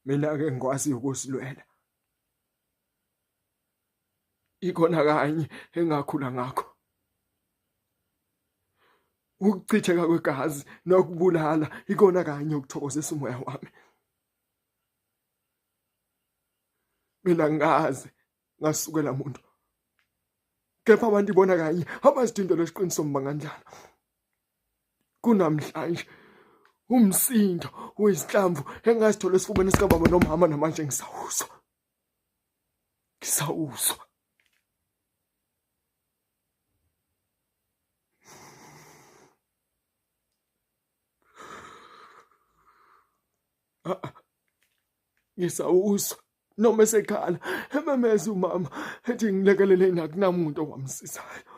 mina ke ngikwazi ukusilwela ikona kanye engakhula ngakho ukuchitheka kwegazi nokubulala ikona kanye ukuthokozisa umoya wami mina ngaze ngasukela muntu kepha abantu ibona kanye abazidindela isiqinisomba kanjalo kunamhlanje umsindo wezinhlamvu engasithole esifubeni sikababa nomama namanje ngisawuzwa ngisawuzwa ngisawuzwa noma esekhala ememeza umama ethi ngilekelele nakunamuntu owamsizayo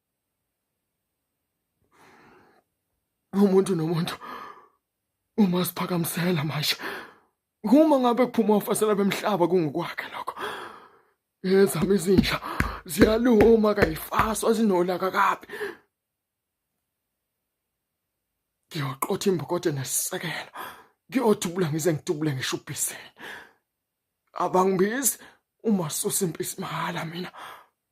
umuntu nomuntu uma siphakamisela manje uma ngabe kuphuma ofasela bemhlaba kungokwakhe lokho ezami izinja ziyaluma kayifaswa zinolaka kabi ngiyoqotha imbokodo nesisekelo ngiyodubula ngize ngidubule ngisho ubhiseni abangibizi uma susa impisi mahala mina